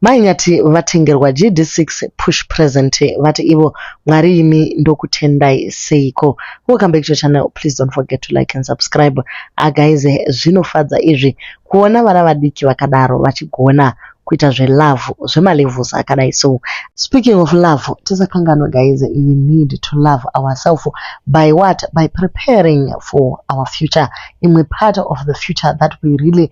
Mai Nyati vatengerwa GD6 push present vati ivo Mwari imi ndokutendai seiko. Welcome back to your channel please don't forget to like and subscribe. Ah guys zvinofadza izvi kuona vana vadiki vakadaro vachigona kuita zvelove zvemalevels akadai so. Speaking of love tisakanganwe guys we need to love ourselves by what by preparing for our future imwe part of the future that we really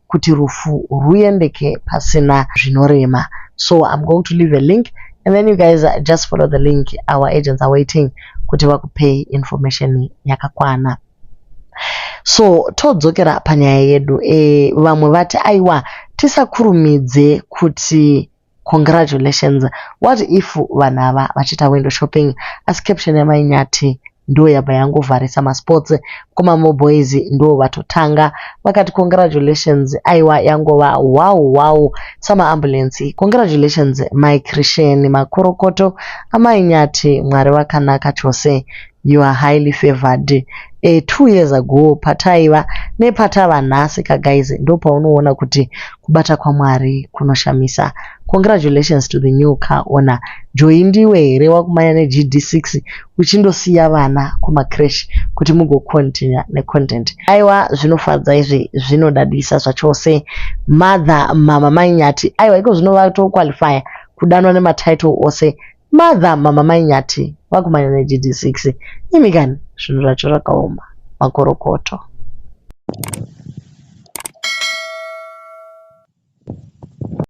kuti rufu ruyendeke pasina zvinorema so I'm going to leave a link and then you guys just follow the link our agents are waiting kuti vakupei information yakakwana so todzokera panyaya yedu e, vamwe vati aiwa tisakurumidze kuti Congratulations. What if vanhu ava vachiita window shopping asi caption yamai Nyati ndiyo yabva yangovharisa masports kuma moboys ndiwo vatotanga vakati congratulations aiwa yangova wow wow samaambulensi congratulations mai Christian makorokoto amai Nyati mwari vakanaka chose You are highly favoured a two years ago pataiva nepatava nhasi ka guys ndopaunoona kuti kubata kwaMwari kunoshamisa congratulations to the new car owner Joy ndiwe here wakumanya neGD6 uchindosiya vana kumacresh kuti mugocontinue necontent aiwa zvinofadza izvi zvinodadisa zvachose mother mama mainyati aiwa iko zvino vatoqualifya kudanwa nematitle ose Mother mama mai Nyati vakumanya ne GD6 imi kani zvinhu zvacho zvakaoma makorokoto.